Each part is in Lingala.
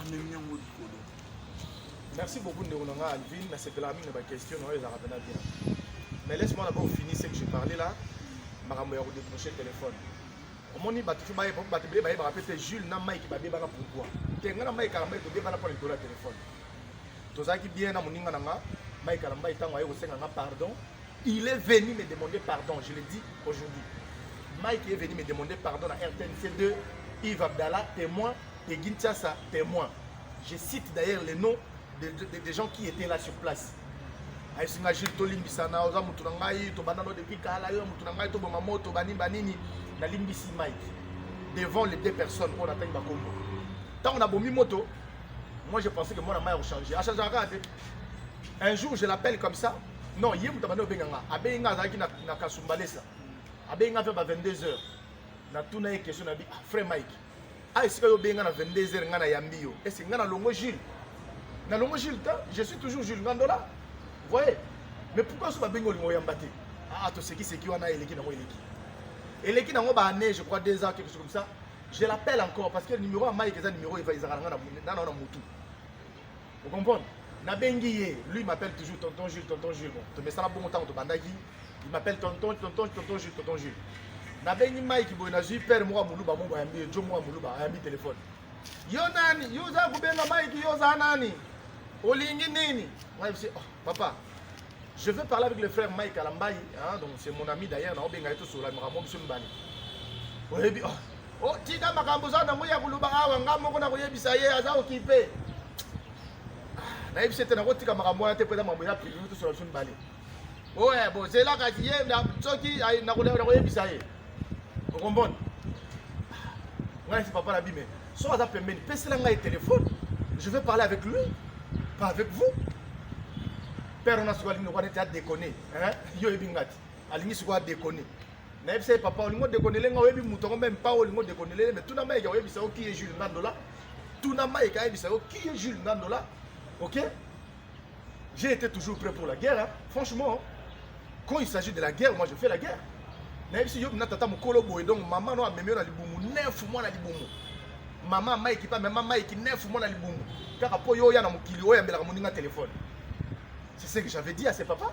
amemi yango likolo merci beaucoup ndeko na ngai alvin nasepelaka mingi na baquestion na oyo ezalaka mpena bien mais laisse moi d'abord fini ce que je parle là makambo ya kodécroche téléphone omoni bato tu baye bato bele bayebaka mpe te jules na mike babebana pourkoi te ngai na mike alambai tobebana mpo na likolo ya téléphone tozalaki bien na moninga na nga mike alambai ntango aye kosenga nga pardon Il est venu me demander pardon, je le dis aujourd'hui. Mike est venu me demander pardon à rtnc 2 Yves Abdallah, témoin, et Gintiasa, témoin. Je cite d'ailleurs les noms des de, de, de gens qui étaient là sur place. ayesinga jules tolimbisana oza motu na ngai tobanda no depuis kala yo motu na ngai toboma moto banini banini nalimbisi mike devant les deux personnes oyo natangi bakombo ntango nabomi moto moi je pensais que mwana mai akochange achangeaka kaka te un jour je l'appelle comme ça non ye moto abandi obenga nga abengi nga azalaki na, na kasumbalesa abengi nga mpe ba 22 heures natuna ye question nabi ah, frère mike a ah, esika yo obengi nga na 22 heures nga nayambi yo ese nga nalongo jules nalongo jules te je suis toujours jules ngandola voye mais pourquoi so babengi olingo oyamba te aa ah, tosekiseki wana eleki nango eleki eleki nango baannée je crois deux ans quelque chose comme ça je l'appelle encore parce que numéro ya mike eza numéro ezalaka nanga nana na motu Vous comprenez nabengi ye lui m'appelle toujours tonton jules tonton jules bon tomesana bongo ntango tobandaki il m'appelle tonton tonton tonton jules tonton jules nabengi mike boye nazwi pere moko ya moluba moko ayambi ye jo moko ya moluba ayambi telefone yo nani yo oza kobenga mike yo oza nani olingi nini mike Papa, je veux parler avec le frère Mike Alambaï, hein, donc c'est mon ami d'ailleurs, na obenga eto sur la mramo biso mbali. Oyebi oh, oh tika makambo za nango ya kuluba awa nga moko na koyebisa ye aza okipe. Ah, na yebisa te na kotika makambo wana te peza mambo ya privé to sur la biso mbali. Oye, bo zela kati ye soki na koyebisa ye. okombona ngai si papa nabi me so aza pembeni pesela ngai telefone je vais parler avec lui pas avec vous père ona sikoyo alingi lokola neti adekone yo oyebi ngai te alingi sikoyo adekone nayebisa ye papa olingi odekonele ngai oyebi moto yango meme pa olingi odekonelele me tuna mayeke oyebisa yo kiye jules ngandola tuna mayeke ayebisa yo kiye jules ngandola ok J'ai été toujours prêt pour la guerre. Hein. Franchement, quand il s'agit de la guerre, moi je fais la guerre. nayebisi yo na tata mokolo boye donc mama no amemi yo na libumu nefu mwana libumu mama maiki mpe amema maiki nefu mwana libumu kaka mpo yo oya na mokili oyambelaka moninga telefone c'est ce que j'avais dit à ses papa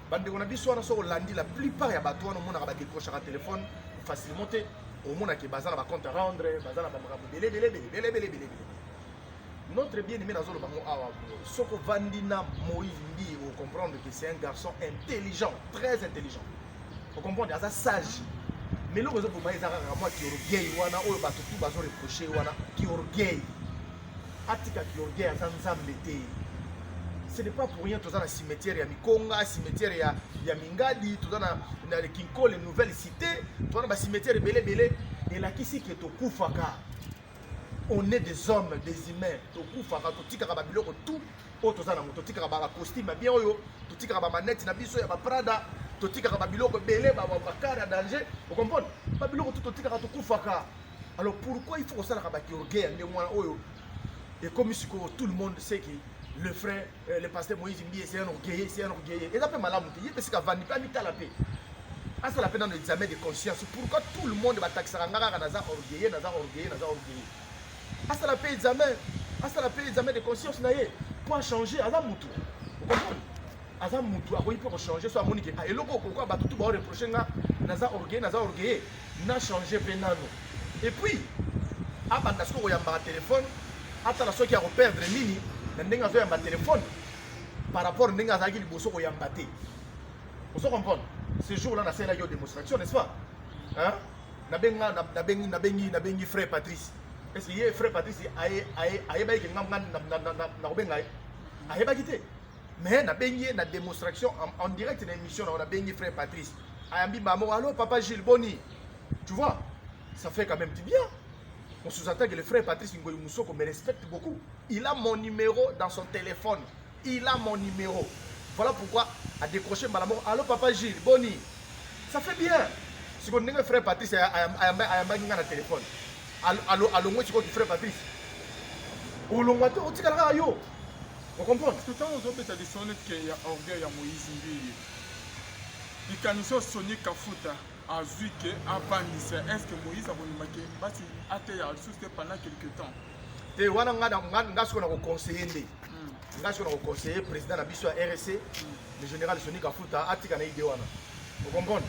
bandeko na biso wana soki olandi la plupart ya bato wana omonaka badecrochaka telefone facilement te omonake baza na bacompte à rendre baza na bamakambo belebelebelebelebelebele notre bien aimé nazoloba ngo awa soki ovandi na moïse mbi ocomprendre que c'est un garçon intelligent très intelligent ocomprendre aza sage mais eloko ezoboma eza kaka mwa kiorgueil wana oyo bato tu bazoreproche wana kiorgueil atika ki orgueil aza nzambe te ce n'est pas pour rien toza na cimetière ya mikonga cimetière ya, ya mingadi toza na, na le kinkole nouvelle cité toza na bacimetière ebele ebele elakisi ke tokufaka on est des hommes des humains tokufaka totikaka babiloko tout oyo toza nango totikaka bacostume bien oyo totikaka bamanete na biso ya baprada totikaka babiloko ebele bakare ya danger okomprendre babiloko tout totikaka tokufaka alors pourquoi il faut kosalaka bato orgueil ya ndenge wana oyo ekomi sikoyo tout le monde sait que le frère euh, le pasteur moïse mbiye c'est un orgueilleux c'est un orgueilleux eza mpe malamu te ye mpe sika avandi mpe amitala mpe asala mpe nano examen de conscience pourquoi tout le monde batakisaka nga kaka naza orgueilleux naza orgueilleux naza orgueilleux asala mpe examen asala mpe examen de conscience na ye mpo achange aza motu okomprendre aza mutu akoki mpe kochanger so amoni ke ah, eloko okokoa bato tu baoreproche nga naza orgueil naza orgueille na changer mpe nano epuis abanda soki koyambaka telefone atala soki akoperdre nini na ndenge azoyamba telefone par rapport ndenge azalaki liboso koyamba te ozo comprendre ce jour là nasalelaki yo démonstration n'est-ce pas hein? nabengi nabengi nabengi nabengi frère patrice est ce que ye frère patrice ayebaki ke nga nakobenga ye ayebaki te mais nabengi ye na demonstration en, en direct na émission na nabengi frère patrice ayambi mamo allo papa gilles boni tu vois ça fait quand même du bien on sous-entend que le frère patrice ngoyi musoko me respecte beaucoup il a mon numéro dans son téléphone il a mon numéro voilà pourquoi a décroché mbala moko allo papa gilles boni ça fait bien sikoyo ndenge frère patrice ayambaki ngai na téléphone alongwe sikoyo ki frère patrice olongwa te otikala kaka yo okomprendre tout temps ozobeta lisolo neti ke ya orgueil ya moïse mbiye likanisi oyo soni kafuta azwi ke abangisa est ce que moïse akondima ke basi ateya lisusu te pendant quelque temps te wana nga sikoyo nakoconseille nde hmm. nga sikoyo nakoconseille président na biso ya rsc hmm. le général soni kafuta atika na ide wana okomprendre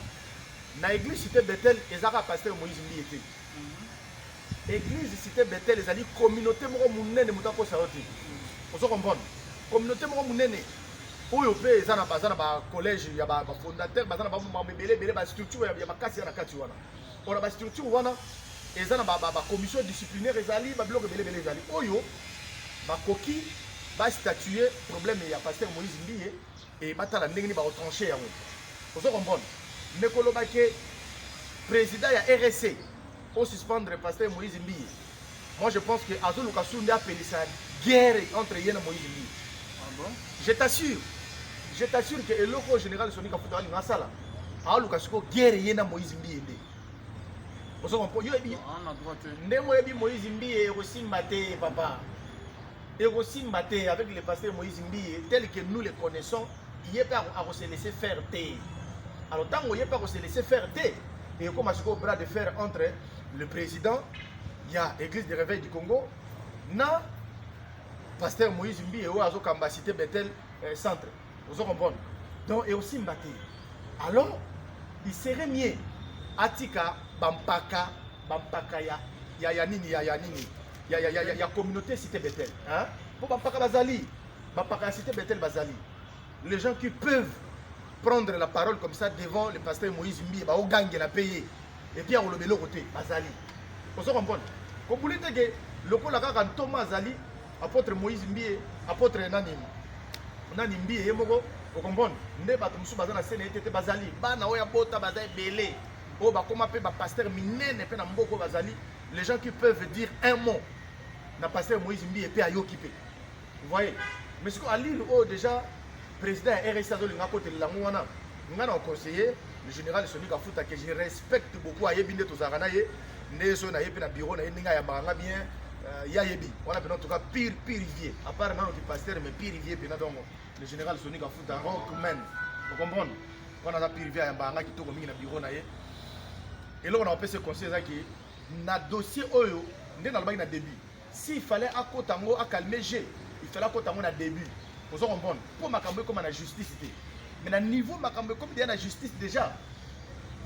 na église cité bethel ezaka pasteur moïse mbiye te Eglise Cité Bethel ezali communauté moko monene moto akosa yo te. Ozo comprendre? Communauté moko monene oyo mpe eza na baza na ba collège ya ba fondateur baza na ba mambo ebele ebele ba structure ya makasi ya na kati wana. Pona ba structure wana eza na ba, ba, ba commission disciplinaire ezali ba biloko ebele ebele ezali oyo bakoki ba statuer problème ya pasteur Moïse Mbiye Et batala ndenge ni ba retrancher yango. Ozo comprendre? Mais koloba ke président ya RSC au suspendre pasteur Moïse Mbiye. Moi je pense que azo luka sunde apelisa guerre entre yena Moïse Mbiye. Ah bon? Je t'assure. Je t'assure que eloko général Sonic afuta ali ngasala. A luka siko guerre yena Moïse Mbiye nde. Ozo comprendre? Yo ebi. Ah na droite. Ndemo ebi Moïse Mbiye ekosimba te papa. ekosimba te avec le pasteur moïse mbiye tel que nous le connaissons ye mpe akose laisser faire te alors ntango ye mpe akose laisser faire te ekoma sikoyo bras de fer entre le président ya église de réveil du congo na pasteur moïse mbiye oyo azokamba cité bethel eh, centre ozo comprendre donc et aussi mbate alors il serait mieux atika bampaka bampaka ya ya ya nini ya ya nini ya ya ya, ya, ya communauté cité Bethel hein pour bampaka bazali bampaka ya cité Bethel bazali les gens qui peuvent prendre la parole comme ça devant le pasteur Moïse Mbiye ba ogangela payer et puis akoloba eloko te bazali ozo comprendre kobuli te ke lokola kaka ntoma azali Apotre Moïse Mbiye, apotre nani nani Mbiye ye moko okomprendre nde bato mosusu baza na sene ete te bazali bana oyo abota baza ebele oyo bakoma mpe bapaster minene mpe na mboka oyo bazali les gens qui peuvent dire un mot na paster Moïse Mbiye mpe ayoki mpe voyez mais sikoyo alire oyo déjà President ya RSI azo linga kotelela yango wana nga na conseiller le général Sony Kafuta que je respecte beaucoup ayebi nde tozalaka na ye nde soki na ye mpe na bureau na ye ndenge ayambaka nga bien euh, ye ayebi wana mpena en tout cas pire pire vieux à part nano ki pasteur mais pire vieux mpena donc le général Sony Kafuta rockman o comprendre wana aza pire vieux ayambaka nga kitoko mingi na bureau na ye eloko na kopesa conseil ezaki na dossier oyo nde nalobaki na début si il fallait akota ngo a calmer jeu il fallait akota ngo na début ozo comprendre po makambo ekoma na justice te mais na niveau makambo ekomi deja na justice déjà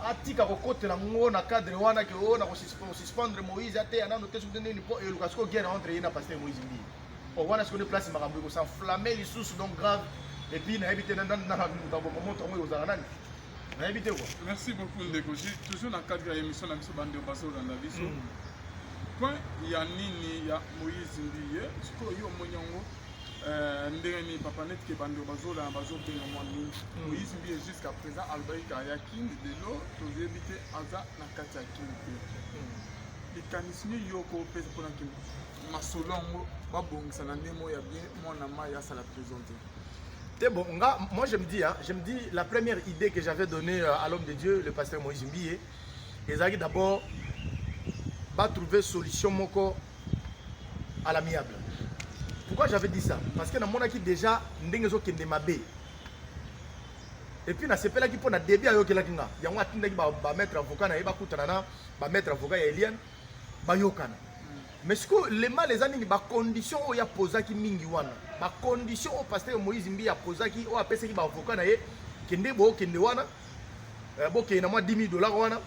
atika kokotela ngo na cadre wana ke o oh, na kosuspendre moïse ateya nano te soki nini mpo eluka sikoyo guerre entre ye na pasteur moïse mbii o oh, wana sikoyo nde place makambo ekosenflamme lisusu donc grave epuis nayebi te nanamoto yango ekozala nani nayebi te quoi merci beaucoup ndeko je toujours na cadre ya émission na biso bande bazolanda biso mm. point ya nini ya moïse mbiye sikoyo yo omoni yango euh, ndenge nini papa neti ke bande bazolanda bazobenga mwa nini mm. moïse mbiye jusqu'à présent alobaki kaka ya kini lelo toyebi te aza na kati ya kini te mm. likanisi nini yo okopesa mpona kini masolo yango babongisa na ndenge moko ya bien mwana mai asala prison te te bon nga moi je me dis hein, je me dis la première idée que j'avais donnée euh, à l'homme de Dieu le pasteur Moïse Mbiye ezalaki d'abord ba trouver solution moko à l'amiable pourquoi j'avais dit ça parce que namonaki déjà ndenge ezokende mabe epuis nasepelaki mpo na debi ayokelaki nga yango atindaki bamaître avocat na ye bakutana na bamaître avocat ya eliane bayokana mais sikoyo le mal eza nini bacondition oyo apozaki mingi wana bacondition oyo pasteur moïse mbi apozaki oyo apesaki baavoka na ye kende bookende wana eh, bokende na mwa 10 000 dollar wana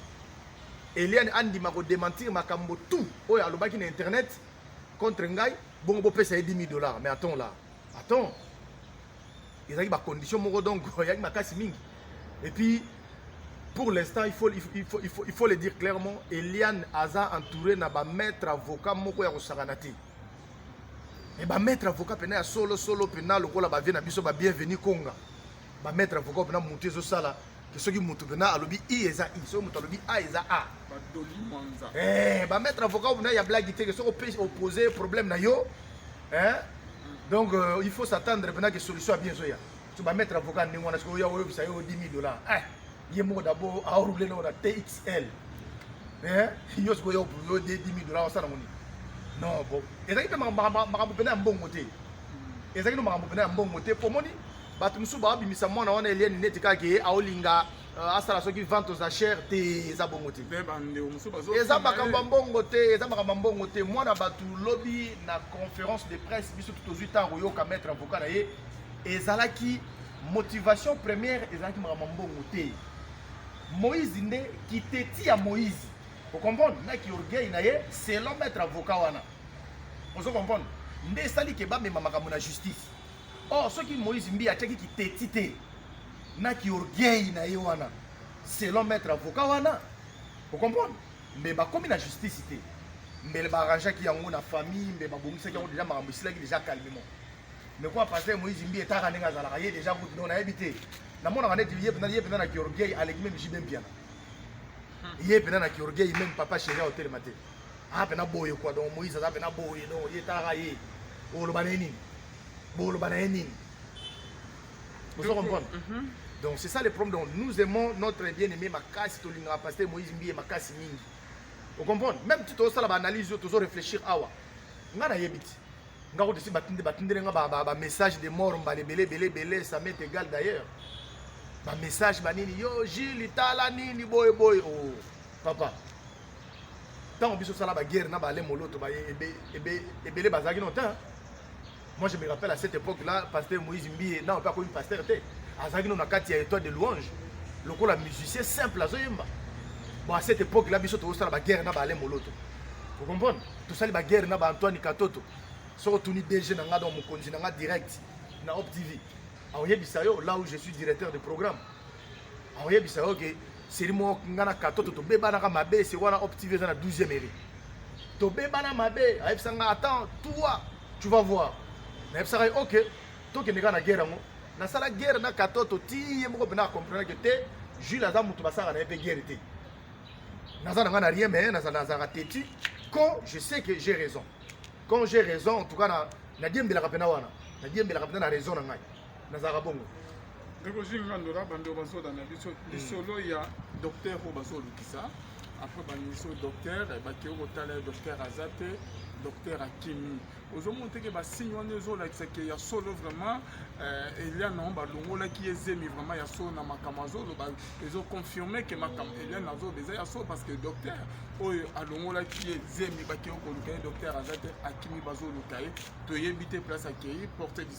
eliane andima kodementir makambo tout oyo alobaki na internet contre ngai bongo bopesa ye 10 000 dollar mais attends là attends ezalaki ba condition moko donc yaki makasi mingi et puis pour l'instant il faut, il, faut, il, faut, il, faut, il faut le dire clairement eliane aza entouré na bamaître avocat moko ya kosakana te e bamaître avocat mpena ya solo solo mpena lokola bavie na biso ba bienvenu konga bamaître avocat mpena motu ezosala soki moto mpena alobi i eza i soki moto alobi a eza a eh, bamaître avocat mpena ya blagi te ke soki ope opose problème na yo eh? donc euh, il faut s'attendre mpena ke solution ya bien ezoya so bamaître avocat ndenge wana soki oya oyebisa yo 10 000 dollar eh, ye moko dabord aroule nao na txl eh, yo soki oya yo 10 000 dollar osala ngo nini non bon ezalaki mpe makambo mpena ya mbongo te ezalaki no makambo mpena ya mbongo te mpo omoni bato mosusu baobimisa mwana wana eliani neti kaka ye aolinga euh, asala soki vente aux achères te eza bongo te eza makambo ya mbongo te eza makambo ya mbongo te mwana bato lobi na conférence de presse biso tozwi ntango koyoka maître avocat na ye ezalaki motivation première ezalaki makambo ya mbongo te moïse nde kiteti ya moïse okomprendre na kiorgueil na ye selon maître avocat wana ozo comprendre nde esali ke bamema makambo na justice Oh, soki Moïse Mbi atiaki kiteti te na kiorgueil na ye wana selon maître avocat wana okomprendre mbe bakomi na justice te mbele baarrangeaki yango na famille mbe babongisaki yango deja makambo esilaki deja calmement mais kwa pasteur Moïse Mbi etaka ndenge azalaka ye deja kutu no nayebi te namonaka neti ye mpenza ye mpenza na kiorgueil aleki meme jibe mpiana ye mpenza na kiorgueil meme papa chéri aotelema te aza mpenza boye kwa donc Moïse aza mpenza boye donc ye etaka ye oloba na ye nini boloba na ye nini ozo comprendre mhm. donc c'est ça le problème donc nous aimons notre bien aimé makasi tolingaka pasteur moïse mbiye makasi mingi ocomprendre même ti tozosala baanalyse oyo tozo réfléchir awa ngai nayebi ti nga kotisi batinde batindele nga bamessage de mort mbala ebele ebele ebele ça met égal d'ailleurs bamessage banini yo jili tala nini boye boye o oh, papa ntango biso osala baguerre na balemoloto ebele bazalaki no te Moi je me rappelle à cette époque là, pasteur Moïse Mbiye, non pas comme pasteur te. Azaki no na kati ya étoile de louange. Lokola musicien simple azoyemba. Bon à cette époque là biso tozosala ba guerre na ba Alain Moloto. Vous comprenez? Tosali ba guerre na ba Antoine Katoto. Soko tuni DG na nga donc mokonzi na nga direct na Op TV. Aoyebisa yo là où je suis directeur de programme. Aoyebisa yo que seli moko nga na katoto tobebanaka mabe se wana op tv eza na 12e ere tobebana mabe ayebisa nga attends toi tu vas voir nayebisaka ye ok tokende kaka na guerre yango nasala guerre na katoto ti ye moko mpena akomprenake te jules aza moto basalaka na ye mpe guerre te naza na nga na rien mais nazalaka teti quand je sais que j'ai raison quand j'ai raison en tout cas nadiembelaka mpena wana nadiembelaka mpena na raison na ngai nazalaka bongo ndeko zinga ndola bandeko bazoda na biso hmm. lisolo ya docteur oyo bazolukisa apres bamiso docteur eh, bakei kotala ye docteur aza te docteur akimi ozomona teke basigne wana ezolakisa ke ya solo vraiment eh, eliane yango balongolaki ye zemi vraiment ya solo na makambo azoloba ezoconfirme ke makambo eliane azoloba eza ya solo parce que docteur oyo alongolaki ye zemi bakei koluka ye docteur aza te akimi bazoluka ye toyebi te place akei porte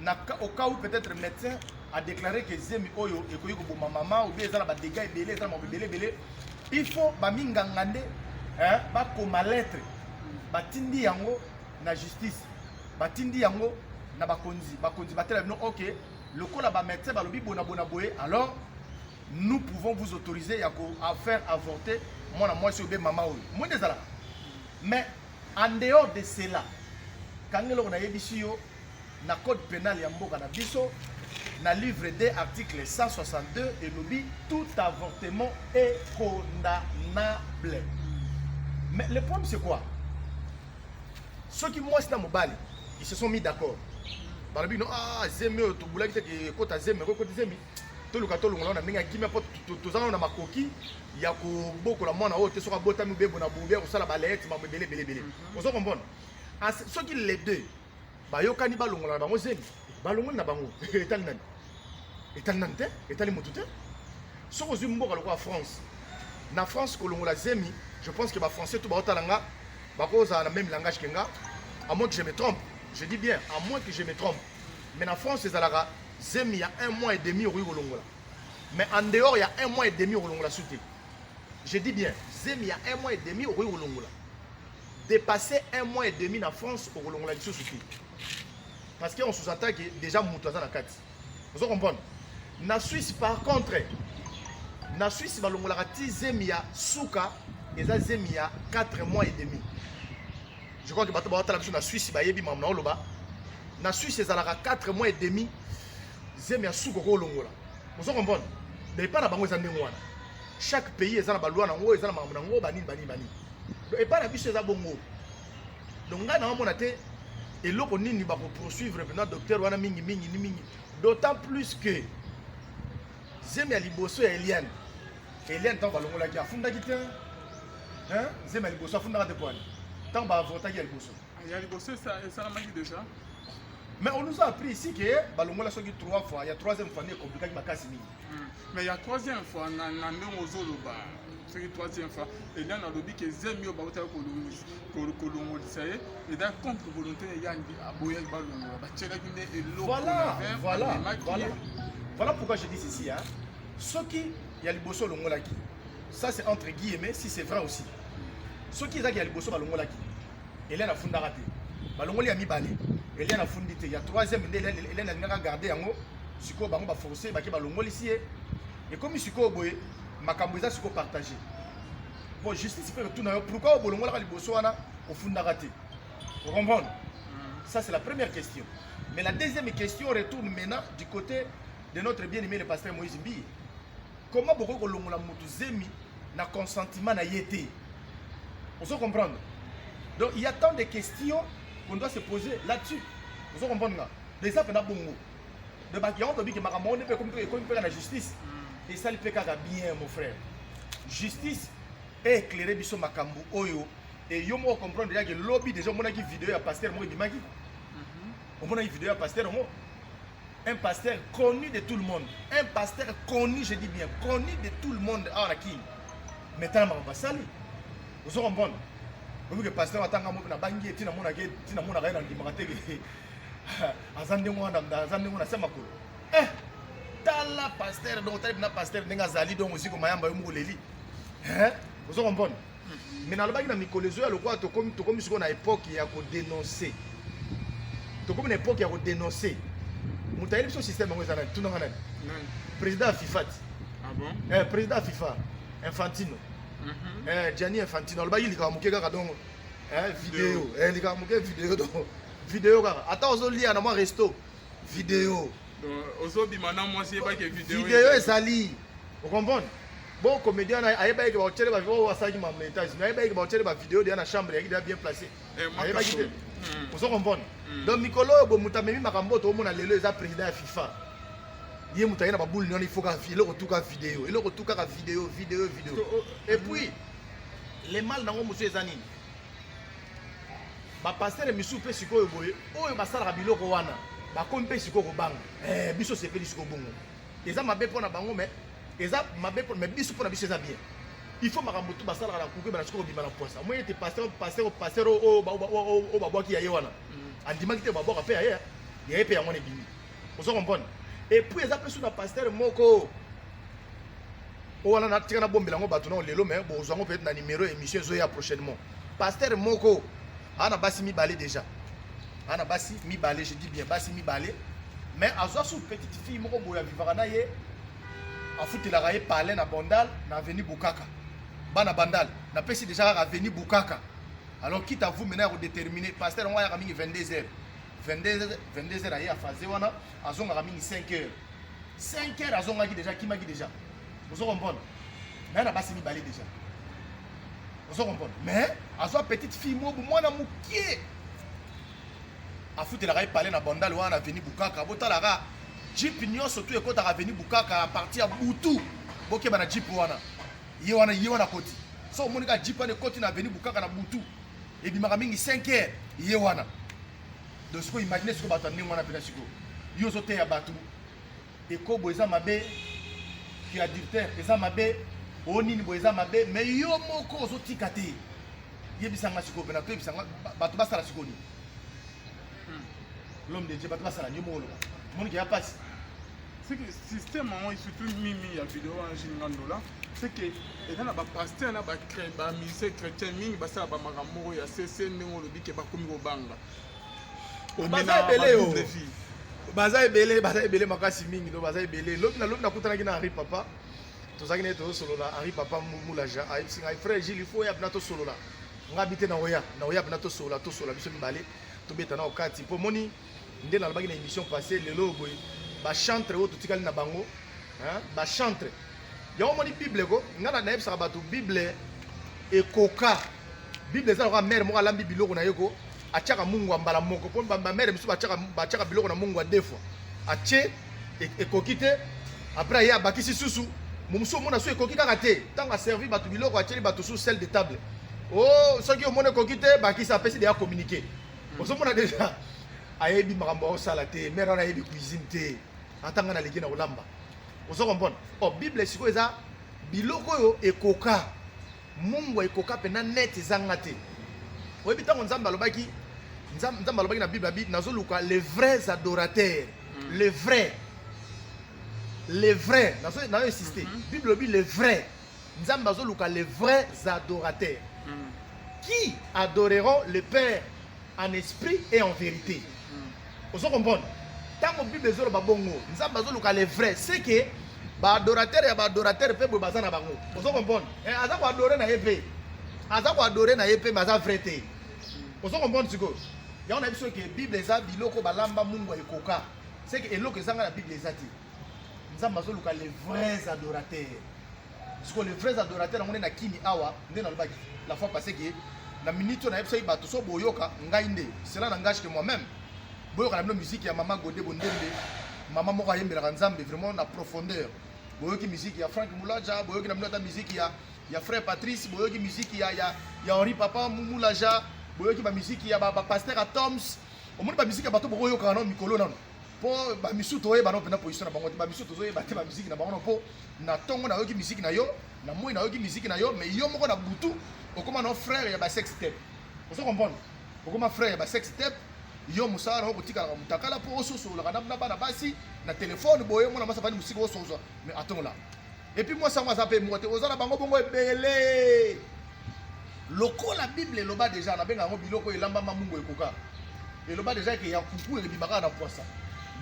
na au cas où peut-être médecin a déclaré que zemi oyo ekoki koboma mama ou bien eza na ba dégâts ebele eza na makambo ebele ebele il faut baminganga nde hein, bakoma lettre batindi yango na justice batindi yango na bakonzi bakonzi batela bino ok lokola bamédecin balobi bonabona boye alors nous pouvons vous autoriser ya ko faire avorter mwana mwasi oyo be mama oyo mwende ezalaka mais en dehors de cela kangela oyo nayebisi yo na code penal ya mboka na biso na livre de article 162 elobi tout avortement est condamnable mais le problème c'est quoi soki mwasi na mobali ils se sont mis d'accord balobi no ah zemi oyo tobulaki te ekota zemi ekoki koti zemi toluka tolongola wana ndenge ya kimia mpo toza nano na makoki ya kobokola mwana oyo te soki abotami bebo na bobi ya kosala baleyete mambo ebele ebele ebele mhm. ozo comprendre soki les deux bayokani balongola na bango zemi balongoli na bango etali nani etali nani te etali motu te soki ozwi mboka lokola france na france kolongola zemi je pense que bafrançais to baotala nga bakozala na même langage ke nga à moins que je me trompe je dis bien à moins que je me trompe mais na france ezalaka zemi ya un mois et demi okoki kolongola mais en dehors ya un mois et demi okolongola su te je dis bien zemi ya un mois et demi okoki kolongola depasser un mois et demi na France okolongola lisusu te parce que on sous attaque déjà moto aza na kati ozo comprendre na Suisse par contre na Suisse balongolaka ti zemi ya suka eza zemi ya 4 mois et demi je crois que bato baotala biso na Suisse bayebi mamu na oloba na Suisse ezalaka 4 mois et demi zemi ya suka okolongola ozo comprendre mais epai na bango eza ndenge wana chaque pays eza na balwa na yango eza na makambo na yango banini banini banini epai na biso eza bongo donc ngai naomona te eloko nini bakoprosuivre mpena docteur wana mingi mingi ni mingi d'autant plus que zemi ya liboso ya eliane eliane ntango balongolaki afundaki te zemi ya liboso afundaka te poani ntango baavotaki ya liboso ya liboso esalamaki déjà mais on nous a appris ici que balongola soki 3 fois ya 3e fois nde ekomplikaki makasi mingi Hmm. Mais ya troisième fois na na ndenge ozoloba soki troisième fois eda nalobi ke zemi oyo bautaki kolongolisa ye eda contre volonté na ye aboyaki balongola batielaki nde elokoemaki voilà pourquoi je dis ceci hein? soki ya liboso olongolaki ça c'est entre guillemets si c'est vrai aussi soki ezaki ya liboso balongolaki eliane afundaka te balongoli ya mibale eliane afundi te ya troisième nde eliane alingaka garde yango sikoyo bango ba forcer bake balongolisi ye ekomi sikoyo boye makambo eza sikoyo partage po justice mpe kotuna yo pourkui oyo bolongolaka liboso wana ofundaka te ocomprendre mm. ça c'est la première question mais la deuxième question retourne maintenant du côté de notre bien aimé le pasteur moïse mbiye comment bokoki kolongola motu zemi na consentiment na ye te ozo comprendre donc il y a tant de questions qu'on doit se poser là-dessus ozo comprendre nga eza pena bongo de bato yango tobi ke makambo yango nde mpe ekomi mpe na justice mm. esali mpe kaka bien mon frère justice eeclaire biso makambo oyo e yo moko comprendre yake lobi déjà omonaki video ya pasteur moko ebimaki mm-hmm. omonaki video ya pasteur yango un pasteur connu de tout le monde un pasteur connu je dis bien connu de tout le monde awa na kini mais tala makambo asali ozo comprendre oyoki pasteur atanga mo na bangi ye ntina monaka ye ntina monaka ye na ndimaka te aza ndenge wana aza ndenge wana sia makolo eh tala pasteur donc otali mpena pasteur ndenge azali donc osi komayamba yo moko oleli eh? ozo kompone hmm. mais nalobaki na mikolo ezoya lokola tokomi sikoyo na epoke ya kodenonse tokomi na epoke ya kodenonse moto ayebi biso système yango eza nani tunanga nani président ya fifa ti ah eh, président ya fifa infantino mhm. eh, gianni infantino alobaki likambo moke kaka donc eh, video likambo moke video donc Video kaka. Ata ozo lia na mwa resto. Video. Ozo bima na mwasi yebaki video. Video ezali. Vous comprenez Bon comédien ayebaki ke baotyele ba oyo asalaki ma montage mais ayebaki ke baotyele ba video deya na chambre yaki deya bien placé eh, ayebaki te hmm. ozo comprendre hmm. donc mikolo oyo bo moto amemi makambo oyo toomona lelo eza président ya fifa ye moto aye na baboule nyona ifo kaka eloko tu kaka video eloko tu kaka video video video oh, oh. et puis le mal nango mosusu eza nini ba pasteur misusu pe sikoyo boye oyo basalaka biloko wana bakomi pe sikoyo kobanga eh, biso sepeli sikoyo bongo eza mabe mpo na bango mais eza mabe mais biso mpo na biso eza bien il faut makambo tu basalaka na kuku ebana sikoyo kobima na poisa omoni ete pasteur pasteur pasteur oyo babwaki ya ye wana mm. andimaki te babwaka mpe ya ye ya ye mpe yango wana ebimi ozo comprendre et puis eza mpe su na pasteur moko o wana natika nabombela yango bato nao lelo me bozwa yango peut-être na numero ya émission ezoya prochainement pasteur moko aa na basi mibale déjà aa na basi mibale je dis bien basi mibale mais azwa su petite fille moko boye avivaka na ye afutelaka ye palin na bandal na aveni bukaka bana bandal napesi déjà kaka aveni bukaka alors quitte à vous maintenant ya kodetermine pasteur yango ayaka mingi 22 heures 22 22 heures aye afaze wana azongaka mingi 5 heures 5 heures azongaki déjà akimaki déjà ozo comprendre naye na basi mibale déjà ozo comprendre mais azwa petite fille mobu mwana mokie afutelaka ye pale na bandale wana na aveni bukaka botalaka jipe nyonso tu ekotaka aveni bukaka aparti ya butu bokeba na jipe wana ye wana ye wana koti so omoni kaka jipe wana ekoti na aveni bukaka na butu ebimaka mingi 5 heures ye wana donc sikoyo imagine sikoyo bato ya ndenge wana mpena sikoyo yo ozoteya bato ekobo eza mabe ki adultère eza mabe o nini boye eza mabe mais yo moko ozotika te yebisa nga sikoyo mpena toyebisa nga bato basala sikoyo nini hmm. l'homme de dieu bato basala nini yo moko oloba monike ya mpasi système yango surtout mimi ya video wana jini nga ndola c'est que eza na bapaster na bamise chrétien mingi basala bamakambo moko ya sese ndenge olobi ke bakomi kobanga baza ebele yo baza ebele baza ebele makasi mingi no baza ebele lobi na lobi nakutanaki na henri papa tozalaki naye tozosolola henri papa mulaja ayebisi ngai frère gile il faut oya bina tosolola ngai bite na oya na oya bina tosolola tosolola biso mibale tobeta na okati mpo moni nde nalobaki na émission passé lelo oyo boye bachantre oyo totikali na bango bachantre yango omoni bible ko ngai nayebisaka bato bible ekoka bible eza lokola mare moko alambi biloko na ye ko atiaka mungu ya mbala moko mpo bamare mosusu batiaka biloko na mungu ya deux fois atie e, ekoki te après ye abakisi susu momosusu omona so ekoki kaka te ntango aservi bato biloko atieli bato susu sel de table o oh, soki omona ekoki te bakisi apesi deya communiqué ozomona deja ayebi makambo aosala te mare wana ayebi cuisine te ata ngai naleki na kolamba ozo comprendre o oh, bible sikoyo eza biloko oyo ekoka mungwa ekoka mpenza net ezanga te oyebi ntango nzambe alobaki nzambe alobaki na bible abi nazoluka les vrais adorateurs mm. les vrais les vrais nazo insiste mm -hmm. bible obi les vrais Nzambe azoluka les vrais adorateurs mm. qui adoreront le Père en esprit et en vérité. Mm. Ozo comprendre? Tango Bible ezoloba bongo, Nzambe azoluka les vrais, c'est que ba adorateurs ya ba adorateurs pe boye baza na bango. Ozo comprendre? Eh, aza ko adorer na ye pe. Aza ko adorer na ye pe, mais aza vrai te. Mm. Ozo comprendre sikoyo? Yango na biso ke Bible eza biloko balamba mungu ekoka. C'est que eloko ezanga na Bible eza te. nzambe azoluka les vrais adorateurs siko les vrais adorateurs yango nde na kimi awa nde nalobaki la fois passé ke na minute oyo nayebisaki bato so boyoka ngai nde cela nangage ke moi même boyoka na bino miziki ya mama gode bondembe mama moko ayembelaka nzambe vraiment na profondeur boyoki miziki ya frank mulaja boyoki na bino ata miziki ya, ya frère patrice boyoki miziki ya, ya, ya henri papa mulaja boyoki bamiziki ya bapaster ba ya toms omoni bamiziki ya bato bokoyokaka nano mikolo nano po ba misu to yeba no pena position na bango te ba misu to yeba te ba musique na bango po na tongo na yoki musique na yo na moi na yoki musique na yo mais yo moko na butu okoma no frère ya ba sex tape ozo comprendre okoma frère ya ba sex tape yo mosala na yo kotikalaka motakala mpo ososololaka na bana basi na telefone boye mwana mwasi afandi mosika osozo mais atongola epi mwasi yango aza mpe mwa te oza na bango bongo ebele lokola bible eloba deja nabenga yango biloko elambama mungu ekoka eloba deja eke ya kuku ebima kaka na pwasa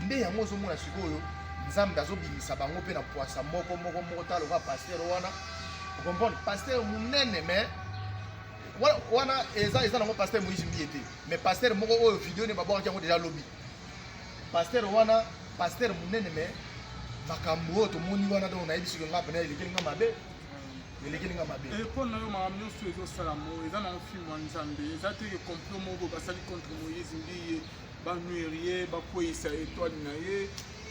nde yango ozomona sikoyo nzambe azobimisa bango mpe na pwasa moko moko moko ta lokola paster wana okomprendre paster monene mais wana eza eza nango paster moise mbiye te mais paster moko oyo video ne babwakaki yango deja lobi Pasteur wana pasteur munene mais makambo oyo tomoni wana donc nayebi soki nga pena elekeli nga mabe elekeli nga mabe mpo eh, na yo makambo nyonso ezosalamo eza nango filme ya nzambe eza te ke complot moko basali contre moïse mbiye banuire ye bakweyisa etoile na ye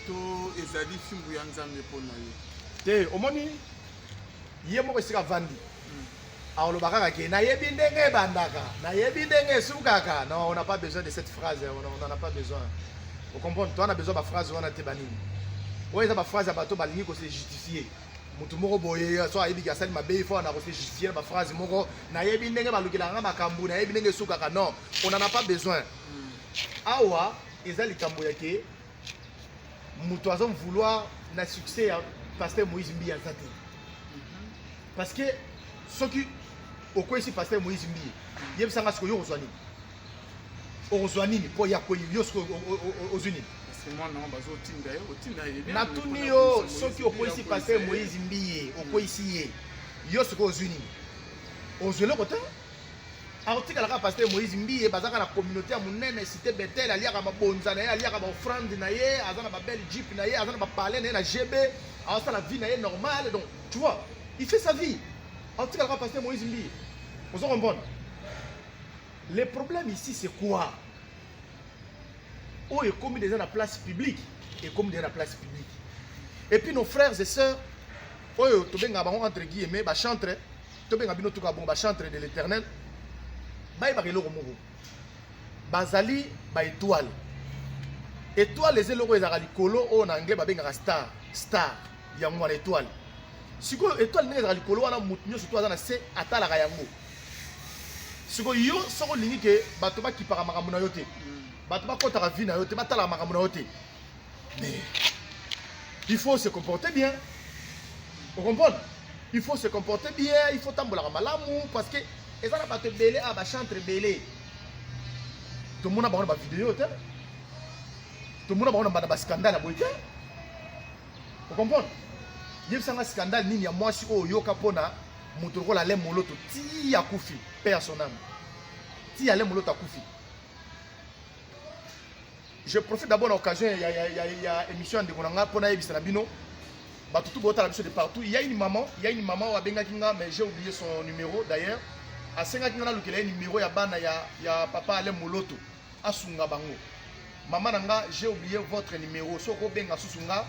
to ezali fimbu ya nzambe mpo na yo te omoni ye moko esika avandi hmm. Akoloba kaka ke nayebi ndenge ebandaka, nayebi ndenge esukaka. Non, on n'a pas besoin de cette phrase, on n'en a pas besoin. Vous comprenez? Toi, on a besoin de la phrase, on a été banni. Ouais, c'est la phrase à bateau, balingi ko se justifier. moto moko boye so ayebiki asali mabe ifo na kosejustifie na baphrase moko nayebi ndenge balukelaka makambo nayebi ndenge esukaka non on en a pas besoin hmm. awa eza likambo ya ke moto azo vouloir na succès ya pasteur moïse mbiye aza te parce que soki okweyisi pasteur moïse mbiye yebisa nga sikoyo okozwa nini okozwa nini mpo ya kwei yo sikoyo ozwi nini natuni yo soki okweyisi pasteur moïse mbiye okweyisi ye yo sikoyo ozwi nini ozwi eloko te akotikala kaka pasteur moïse mbiye bazaka na communauté ya monene cité betel aliaka mabonza na ye aliaka baofrande na ye aza na babelle jeep na ye aza na bapale na ye na gb aosala vie na ye normale donc tu vois il fait sa vie akotikala kaka pasteur moïse mbiye ozo comprendre le problème ici c'est quoi oyo ekomi deja na place publique ekomi deja na place publique et puis nos frères et sœurs oyo tobengaka bango entre guillemets bachantre tobenga bino tuka bongo bachantre de l'éternel bayebaka eloko moko bazali baetoile etoile eza eloko ezalaka likolo oyo na anglais babengaka star star yango wana etoile sikoyo etoile ndenge ezalaka likolo wana moto nyonso to aza na se atalaka yango sikoyo yo soki olingi ke bato bakipaka makambo na yo te bato bakɔtaka vi na yo te batalaka makambo na yo te Mais il faut se comporter bien. Vous comprenez Il faut se comporter bien, il faut tambola malamu parce que et ça n'a pas te belé à ba chantre belé. Tout le monde a pas de vidéo, tout le monde a pas de scandale à boiter. Vous comprenez yebisanga scandale nini ya mwasi oyo oyoka mpo na moto lokola ale moloto ti akufi mpe ya soname ti ale moloto akufi Je profite d'abord l'occasion ya, ya, ya, ya émission ya ndeko na nga mpo nayebisa na bino bato tout botala biso de partout il y a une maman il y a une maman oyo abengaki nga mais j'ai oublié son numéro d'ailleurs asengaki nga nalukela ye numéro ya bana ya, ya papa ale moloto asunga bango mama na nga j'ai oublié votre numéro soki okobenga susu nga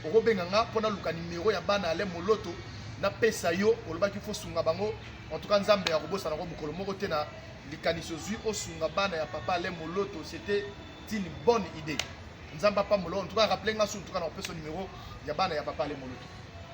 okobenga nga mpo naluka numéro ya bana ale moloto napesa yo olobaki fosunga bango en tout cas nzambe akobosana yango mokolo moko te na likanisi ozwi osunga bana ya papa ale moloto c'était une bonne idée nzambe apambola en tout cas rappele nga su en tout cas na opesa numéro ya bana ya papa ale moloto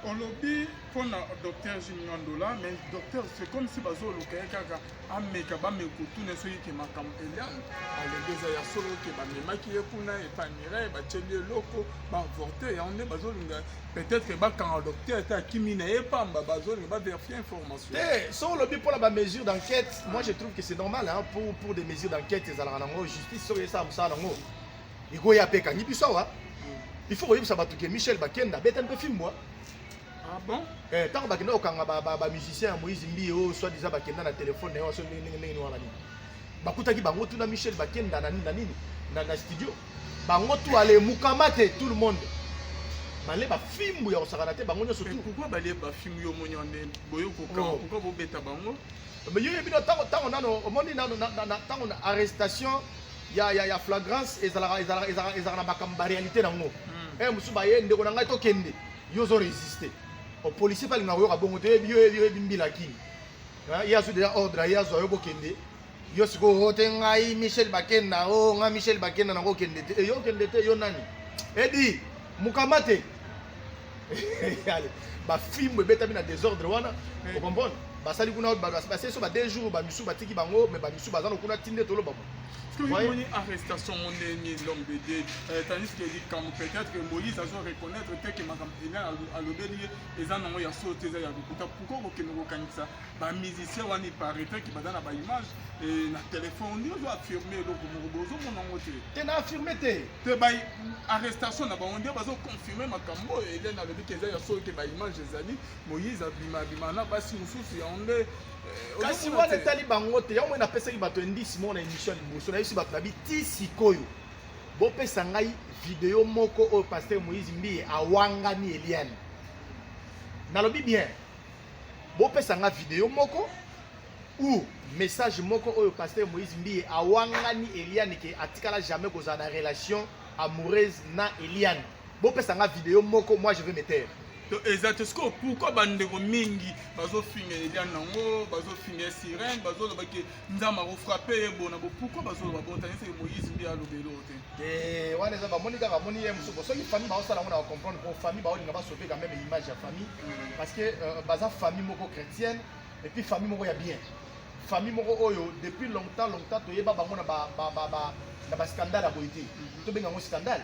olobi mpona docteur jimingandola mais docteur c'est comme si bazoluka ye kaka ameka bameka kotuna soki ke makambo eliane alobi eza ya solo ke bamemaki ye kuna epai mirai batieli eloko baavorte yango nde bazolinga peut-être bakanga docteur te akimi na ye pamba bazolinga baverifie information te eh, so olobi mpo na bamesure d'enquête moi je trouve que c'est normal hein, pour, pour des mesures d'enquête ezalaka nango justice soki esala mosala nango ekoya mpe ekangi biso awa hmm. il faut koyebisa bato ke michel bakenda beta mpe fimbwa ah bon eh, ntango bakenda kokanga bamusicien ya moïse mbiye oyo soit disant bakenda na telefone na ye waso ndenge ndenge ndenge wana nini bakutaki bango tuna michel bakenda na nini na studio bango tu ale mukamate tout le monde bale bafimbu ya kosakana te bango nyonso tu pourquoi bale bafimbu yo omoni wane boye kokanga oh. pourquoi bobeta bango mais yo yebi ntango ntango nano omoni nano ntango na arrestation ya ya ya flagrance ezalaka ezalaka ezalaka ezalaka na makambo ba réalité na yango hmm. eh mosusu baye ndeko na ngai tokende yo ozo résister opolicier mpe alingaka koyoka bongo te yo yebi mbila kini ye azwi deja ordre aye azwa yo bokende yo sikoyo o oh, te ngai michel bakenda o oh, ngai michel bakenda nango okende te eyo eh, okende te yo nani edi mokamba te bafimbo ebetami na desordre wana eh. okomprendre basali kuna basali so ba deux jours bamisu batiki bango me bamisu baza no kuna tinde toloba bo omoni arrestation ngo ndenge lombede euh, tandis que likambo peut-être que moïse azo reconnaître te ke makambo ena alobeli ye eza nango ya solo te eza ya lokuta pourkoi kokende kokanisa bamusicien wana iparaitre ke baza na baimage eh, na telefone ondi ozo affirme eloko moko bozomona yango te te na affirme te te ba arrestation na bango nde bazoconfirme makambo oyo elene alobi ke eza ya solo te baimage ezali moïse abima abima na basi mosusu yango nde eh, kasi wana etali bango te yango moi napesaki bato indice moko na émission ya liboso nayebisi bato na bi ti sikoyo bopesa ngai video moko oyo pasteur moïse mbiye awangani eliane nalobi bien bopesa ngai video moko ou message moko oyo pasteur moïse mbiye awangani eliane ke atikala jamais kozala na relation amoureuse na eliane bopesa nga video moko moi je vais me taire to eza te sikoyo pourkui bandeko mingi bazofinga eliane yango bazofinga sirene bazoloba ke nzambe akofrape ye bona bo pourkui bazoloba botani seke moïse mbi alobeli oyo te te wana eza bamoni kaka bamoni ye mosuku soki famille baosala yango na bacomprendre po famille baolinga basope quand même image ya famille mm. parce que euh, baza famille moko chrétienne et puis famille moko ya bien famille moko oyo depuis longtemps longtemps toyeba bango na ba, ba, ba, ba na bascandale ya boye te mhm. tobenga yango scandale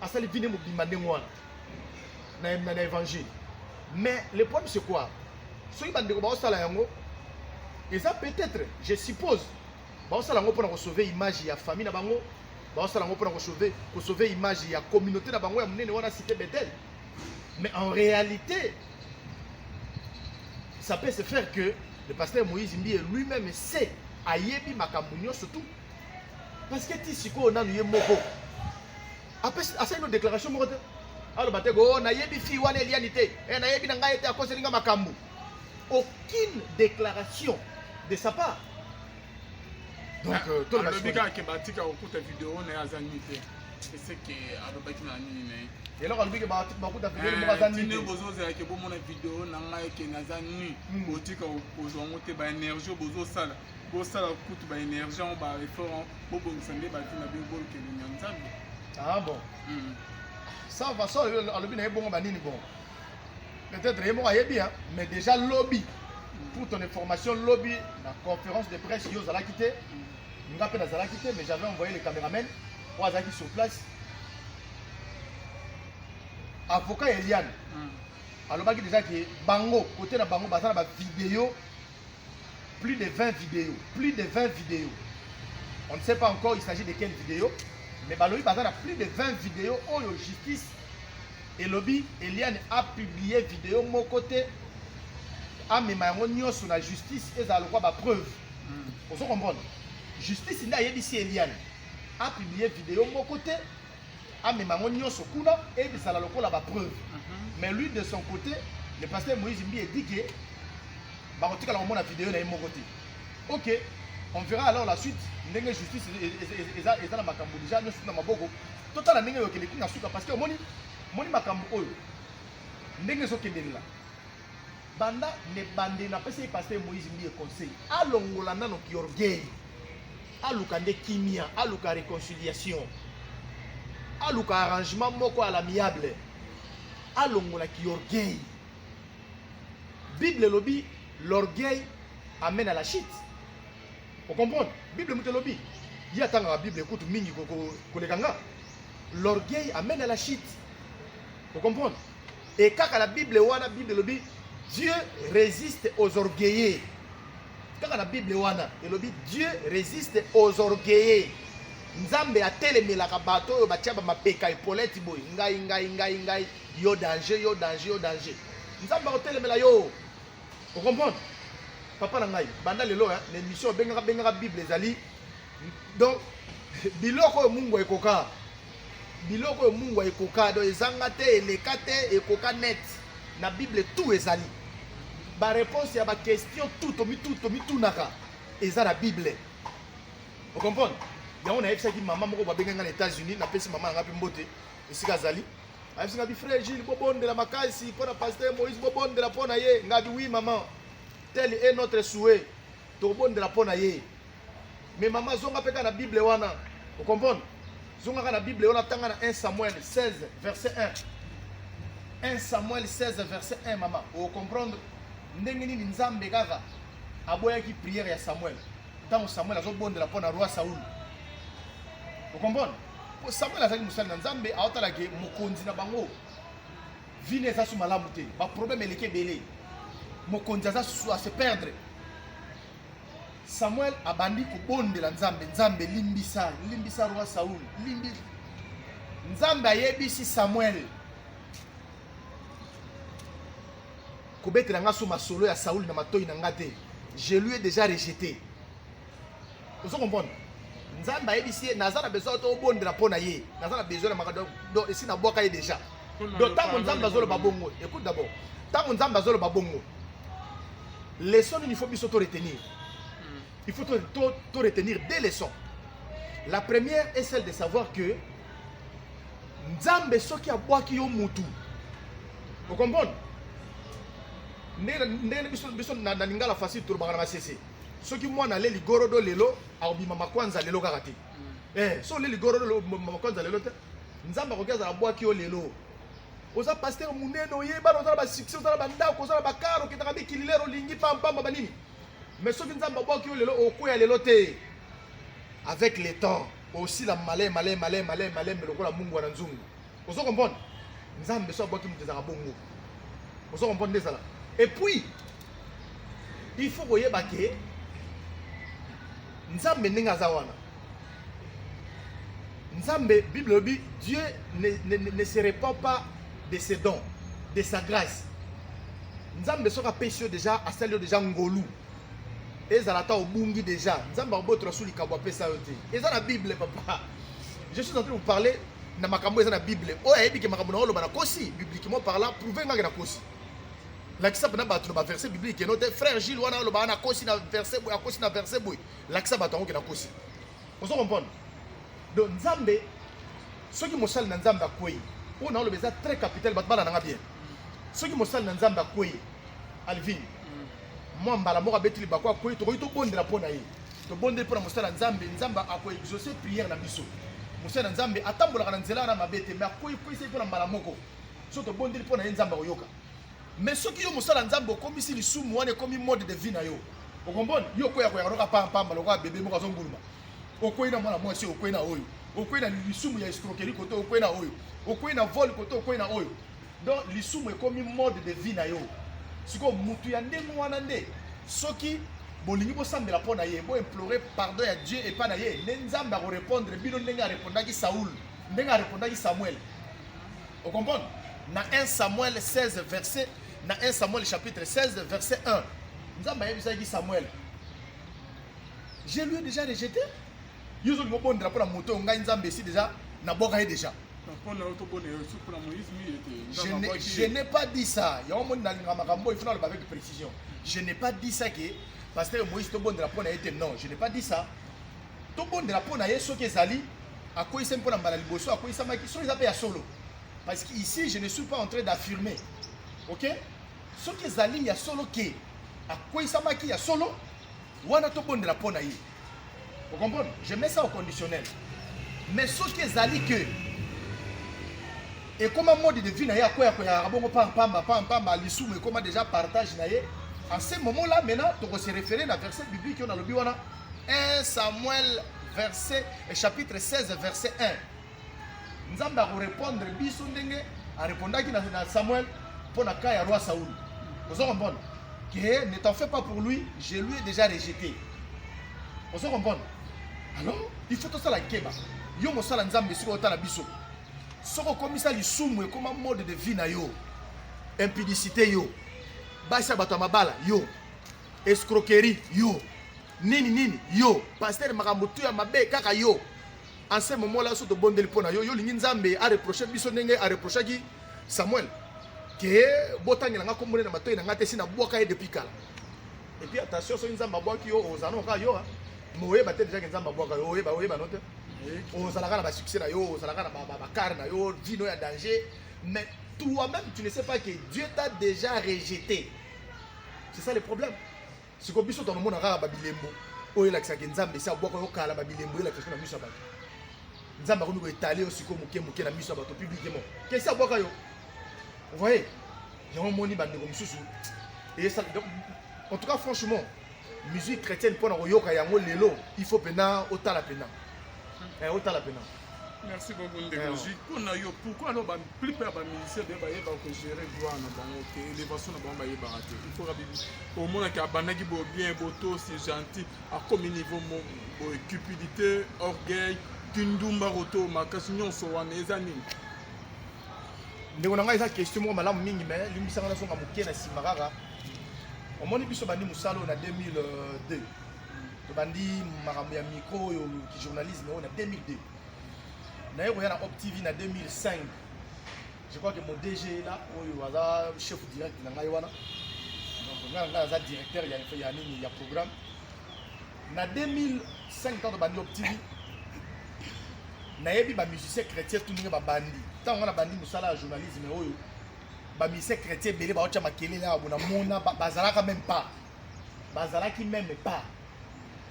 asali vie ne mobimba ndenge wana na, na, na évangile mais le problème c'est quoi soki bandeko baosala yango eza peut-être je suppose baosala yango mpona kosauve image ya famille na bango baosala yango mpona kosauve kosauve image ya communauté na bango ya monene wana cité bethel mais en réalité ça peut se faire que le pasteur moïse mbiye lui-même sait ayebi makambo nyonso tout parce que ti sikoyo nanu ye moko asali no déclaration moko te aloba te go oh, nayebi fille wana eliani te eh, nayebi na ngai ete akoseli ngai makambo aucune déclaration de sa part donc euh, alobi kaka ke batika kokuta video na ye aza nini te eseke alobaki na nini na ye eloko alobi ke bakuta video eh, moko aza nini bozozela ke bomona video na ngai ke naza nini hmm. botika kozwa yango te baénergie bozosala bosala kutu ba énergie yango ba effort yango bobongisa nde bavi na bino bolukeli na nzambe ah bon hmm. ça va ça alobi na ye bongo banini bongo peut-être ye moko ayebi hein mais déjà lobi hmm. pour ton information lobi na conférence de presse yo ozalaki te hmm. nga mpe nazalaki te mais j'avais envoyé le caméraman oyo azalaki sur place avocat eliane alobaki déjà ke bango kote na bango baza na bavideo Plus de 20 videos, plus de 20 videos. On ne sait pas encore il s'agit de quelle vidéo, mais balobi baza na plus de 20 videos oyo justice elobi Eliane a publié vidéo moko te amema yango nyonso na justice ezala lokwa ba preuve. Mm. Ozo comprendre? Justice nde ayebisi Eliane a publié vidéo moko te amema yango nyonso kuna ebisala lokola ba preuve mhm. mais lui de son côté le pasteur moïse mbiye dit que bakotikala komona video na ye moko te ok on verra alors la suite ndenge justice e, e, e, eza eza na makambo deja nyonso na maboko totala ndenge eyokende ti na suka parce que omoni moni makambo oyo ndenge ezokendelela banda nebande napesi ye pasteur moïse mbiye conseil alongola nano kiorgueil aluka nde kimia aluka reconciliation aluka arrangement moko à l'amiable alongola kiorgueil bible elobi l'orgueil amène à la chute okomprendre bible moto elobi ye atangaka bible kutu mingi koleka nga l'orgueil amène à la chute okomprendre e kaka na bible wana bible elobi dieu résiste aux orgueilleux kaka na bible wana elobi dieu resiste aux orgueilleux nzambe atelemelaka bato oyo batya bamapeka epoleti boye ngai ngai ngai ngai yo danger yo danger yo danger nzambe akotelemela yo okomprendre papa na ngai banda lelo na émission obengaka bengaka bible ezali donc biloko oyo mungu ekoka Biloko oyo mungwa ekoka do ezanga te eleka te ekoka net na bible tout ezali ba réponse ya ba question tout tomi tout tomi tunaka eza na bible o comprendre yango nayebisaki mama moko babengai ngai na états-unis napesi mama na ngai mpe mbote esika azali ayebisi ngai bi frère gile bobondela makasi mpo na pasteur moïse bobondela mpo na ye ngai bi oui maman tel est notre souhait tokobondela mpo na ye Mais maman zonga pe na Bible wana. Vous comprenez? Zonga ka na Bible wana tanga na 1 Samuel 16 verset 1. 1 Samuel 16 verset 1 maman. Vous comprenez? Ndenge nini Nzambe kaka aboyaki prière ya Samuel. Tango Samuel azobondela mpo na roi Saul. Vous comprenez? Samuel azali mosali na Nzambe aotala ke mokonzi na bango vie ne eza su malamu te baproblème eleki ebele mokonzi aza su ase perdre Samuel abandi kobondela Nzambe, Nzambe limbisa, limbisa roi Saul, limbi. Nzambe ayebisi Samuel kobetela nga so masolo ya Saul na matoi na nga te. Je lui ai déjà rejeté. Ozo comprendre? Nzambe ayebisi ye naza na besoin to obondela mpo na ye. Naza na besoin na makambo donc esi nabwaka ye déjà. donc ntango nzambe azoloba bongo écoute d'abord ntango nzambe azoloba bongo leson nini faut biso to retenir hmm. il faut to, to, to retenir deux leçons la première est celle de savoir que nzambe soki abwaki yo mutu okomprendre ndenge biso biso na lingala facile tolobaka na masese soki mwana ale ligorodo lelo akobima makwanza lelo kaka te hmm. eh, so ole ligorodo makwanza lelo te nzambe akoki azala abwaki yo lelo oza pasteur monene oye bana oza na basuccès oza na bandako oza na bakaro okendaka mikili lero olingi pampamba banini mais soki nzambe abwaki yo lelo okweya lelo te avec le temps osila malai malai malai malai malai me lokola mungwa na nzungu ozo comprendre nzambe so abwaki moto ezalaka bongo ozo comprendre nde ezala et puis il faut koyeba ke nzambe ndenge aza wana Nzambe, Bible elobi, Dieu ne, ne, ne, ne se repent pas de ses dons, de sa grâce. Nzambe soki apesi yo deja, asali yo deja ngolu. Ezala ata obungi deja, Nzambe akobotola sous likambo apesa yo te. Eza na Bible papa. Je suis en train de vous parler na makambo eza na Bible. Oyo ayebi ke makambo na oloba na kosi, bibliquement parlant, prouver ngaki na kosi. Lakisa pena bato na ba verset biblique no te frère Gilles wana oloba na kosi na verset boye, akosi na verset boye. lakisa bato yango ke nakosi ozo comprendre donc nzambe soki mosali na nzambe akwei oyo naoloba eza très capital bato bana nanga bien soki mosali na nzambe akwei alvin mm. mwa mbala moko abeti libaku akwei tokoki tobondela mpo na ye tobondeli mpo na mosali ya nzambe nzambe akoexauce prière na biso mosali na nzambe atambolaka na nzela na mabe te me akweikwei seki mpo na mbala moko so tobondeli mpo na ye nzambe akoyoka Mais soki yo mosala Nzambe okomisi lisumu wana ekomi mode de vie na yo. Okombona yo koya koya roka pam pam lokola bebe moko azonguluma. Okwei na mwana mwasi okwei na oyo. Okwei na lisumu ya escroquerie kote okwei na oyo. Okwei na vol kote okwei na oyo. Donc lisumu ekomi mode de vie na yo. Siko mutu ya ndenge wana nde soki bolingi bosambela mpo na ye boimplore pardon ya dieu epai na ye nde nzambe akorepondre bino ndenge arepondaki saul ndenge arepondaki samuel O comprendre? Na 1 Samuel 16 verset na 1 Samuel chapitre 16 verset 1. Nzambe ayebisaki Samuel. Je lui ai déjà rejeté. Yo ozo lingo bondela pona moto ngai Nzambe esi déjà na boka ye déjà. Je n'ai pas dit ça. Il y a un monde dans le il faut le avec précision. Je n'ai pas dit ça que Pasteur Moïse te bondela pona ye te. Non, je n'ai pas dit ça. tobondela mpo na ye soki ezali akweyisami mpo na mbala liboso akweyisamaki soki eza mpe ya solo parce que ici je ne suis pas en train d'affirmer ok soki ezali ya solo ke akweyisamaki ya solo wana tobondela mpo na ye okomprendre je mets ça au conditionnel mais soki ezali ke ekoma mode de vie na ye akoya koyaka bongo pampamba pampamba lisumu ekoma déjà partage na ye en ce moment là maintenant tokose référer na verset biblique oyo nalobi wana 1 Samuel verset, eh, chapitre 16 verset 1. Nzambe akorepondre biso ndenge arepondaki na, na Samuel mpo na cas ya roi Saul. Ozo comprendre que ne t'en fais pas pour lui, je lui ai déjà rejeté. Ozo comprendre alors il faut tosala keba yo mosala nzambe esika otala biso soki okomisa lisumu ekoma mode de vie na yo impudicité yo basi ya bato ya mabala yo escroquerie yo nini nini yo pasteur makambo tu ya mabe kaka yo anse momola so tobondeli mpo na yo yo olingi nzambe areproche biso ndenge areprochaki samuel ke botangela nga kombone na matoi na nga te si nabwaka ye depuis kala epuis attention soki nzambe abwaki yo ozana oka yo moyeba te dejake nzambe abwaka yo oyeba oyebano te ozalaka na basuccès na yo ozalaka na bakare na yo vino ya danger mais toi-même tu ne sais pas que dieu t'a déjà rejeté c'est ça le problème siko biso tonomona kaka babilembo oyo elakisaka nzambe esi abwaka yo kala babilembo elakisaka na miso ya bato nzambe akomi koetale yo siko moke moke na miso ya bato publiquement kesi abwaka yo voye yango omoni bandeko mosusu esala en tout cas franchement musique chrétienne mpo na koyoka yango lelo il faut mpena otala mpena eh, otala mpena merci beaucoup ndeko ji mpo na yo pourquoi alors ba plupart ya bamusicien be bayeba kogere gloire na bango te elevation na bango bayebaka te ifoka bibi omonaki abandaki bo bien botosi gentil akomi niveau boye cupidité orgueil kindumba koto makasi nyonso wana eza nini ndeko na ngai eza question moko malamu mingi mai limbisanga nazonga moke na nsima kaka omoni biso bandi mosala oyo na 2002 tobandi makambo ya micro oyo kijournalisme oyo na 2002 naye koya na op tv na 2005 je crois que mon dg la oyo aza chef direct na ngai wana donc ngai ngai aza directeur ya ya nini ya programme na 2005 ntango tobandi op tv nayebi bamusicien chrétien tu ndenge babandi ntango ngai nabandi mosala ya journalisme oyo bamusicien chrétien ebele baotya makelele awa bona mona bazalaka meme pas bazalaki meme pas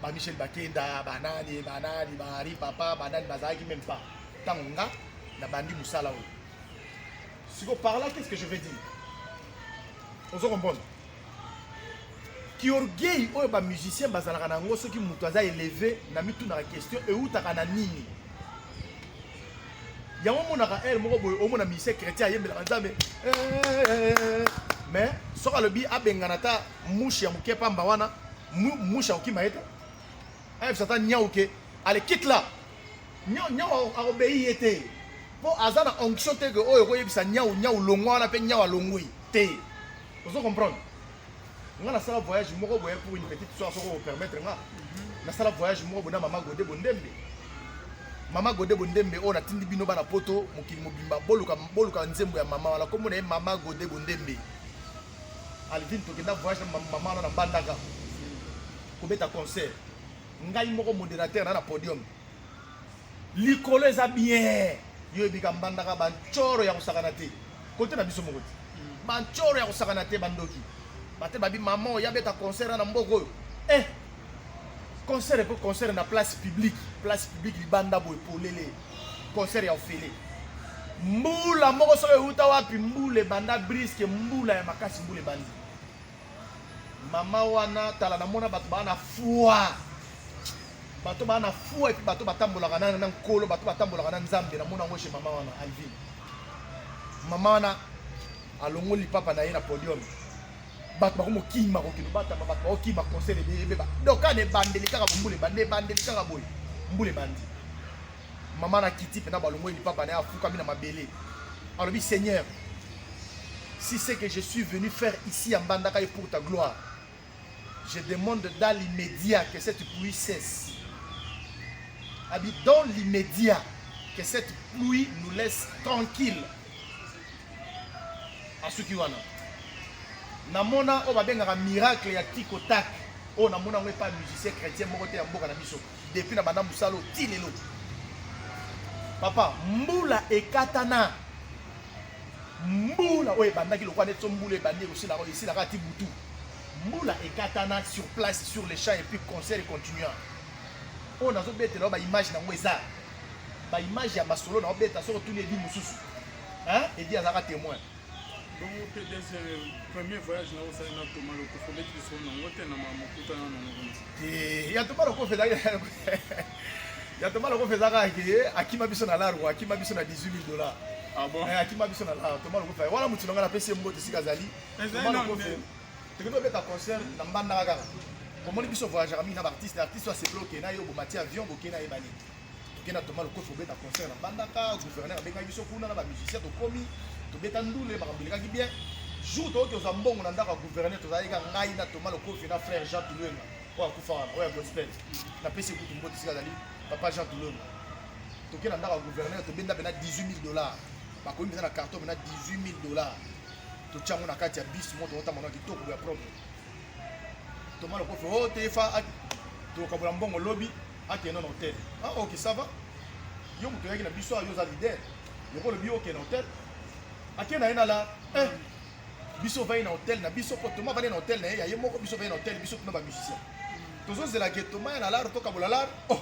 ba Michel Bakenda banani banani ba Henri Papa banani bazalaki meme pas ntango nga nabandi mosala oyo siko par là qu'est-ce que je vais dire ozo comprendre kiorgueil oyo ba musicien bazalaka na yango soki moto aza eleve na mitunaka question eutaka na nini yango omonaka heure moko boye omona musicien chrétien ayembelaka nzambe mais soki alobi abengana ata mushe ya moke pamba wana mushe akokima ye te ayebisa ata nyau ke ale kite la nyau nyau akobei ye te mpo aza na onction te ke oyo okoyebisa nyau nyau longwa wana mpe nyau alongwi te ozo comprendre nga nasala voyage moko boye pour une petite soir soko opermettre nga mhm. nasala voyage moko boye na mama gode bondembe mama gode bondembe oyo natindi bino bana poto mokili mobimba boluka boluka nzembo ya mama wana komona ye mama gode bondembe alvin tokenda voyage na mama wana na mbandaka kobeta concert ngai moko modérateur na na podium likolo eza bien yo ebika mbandaka bancoro ya kosakana te kote na biso moko te mm. bancoro ya kosakana te bandoki bate babi mama oyo abeta concert na mboka oyo eh concert epo concert na place publique place publique libanda boye polele concert ya ofele mbula moko soki euta wapi mbula ebanda briske mbula ya makasi mbula ebandi mama wana tala namona bato baa na fwa bato baa na fwa epi bato batambolaka na na nkolo bato batambolaka na nzambe namona yango chez mama wana alvine mama wana alongoli papa na ye na podium bato bakomokima kokende batama bato bakokima conseil ebeba donc kana ebandeli kaka bombula ebandi ebandeli kaka boye mbula ebandi mama na kiti mpena balongoli lipapa na ye afukami na mabele alobi seigneur si c'est que je suis venu faire ici à mbandaka ye pour ta gloire je demande dans l'immédiat que cette pluie cesse abi dans l'immédiat que cette pluie nous laisse tranquille asuki wana namona oyo babengaka miracle ya tikotak oyo namona yango epai musicien chrétien moko te ya mboka na biso depuis na banda musalo ti lelo papa mbula ekatana mbula oyo ebandaki lokola neti so mbula ebandi ekosila oyo esilaka ti butu mbula ekatana sur place sur le champ et puis concert continua oyo nazobetela ba image nango eza ba image ya masolo na obeta soko tuni edi mosusu edi azalaka témoin bongo mpe deuxième premier voyage na osali na toma lokofi obeti lisolo nango te na mokutana na mokonzi eh, ya toma lokofi ezali ya toma lokofi eza kaka ke eh, akima biso na largo akima biso na 18 000 dollars ah eh, akima biso na largo toma lokofi wana motu na ngai napesi ye mbote esika azali toma lokofi tokoki tobeta concert na mbandaka kaka omoni biso voyageaka mingi na baartiste artiste aseploke na ye obomati avion bokei na ye bani toke na toma lokofi kobeta concert na bandaka gouverneur abengaki biso kuna na bamusicien tokomi tobeta ndule makambo elekaki bien jour toyoki tozwa mbongo na ndako ya gouverneur tozalaki ka ngai na toma lokofi na frère jean tulwenga oyo akufa wana oyo ya gospel napesi ekutu mbote sika azali papa jean tulwenga toke na ndako ya gouverneur tobenda mpena 18 000 dollars bakomi mpenza na carton mpena 18 000 dollars totya yango na kati ya bis moko tokotamba na kitoko ya propre toma lokofi o oh, tefa tokabola mbongo lobi akenda na hotel ah ok ça va yo moto oyaki na biso yo oza leader lokola obi okenda hotel akenda ye na la eh biso ovandi na hotel na biso mpo toma avandi na hotel na ye ya ye moko biso ovandi na hotel biso tuna bamusicien tozozela ke toma ya na lare tokabola lare oh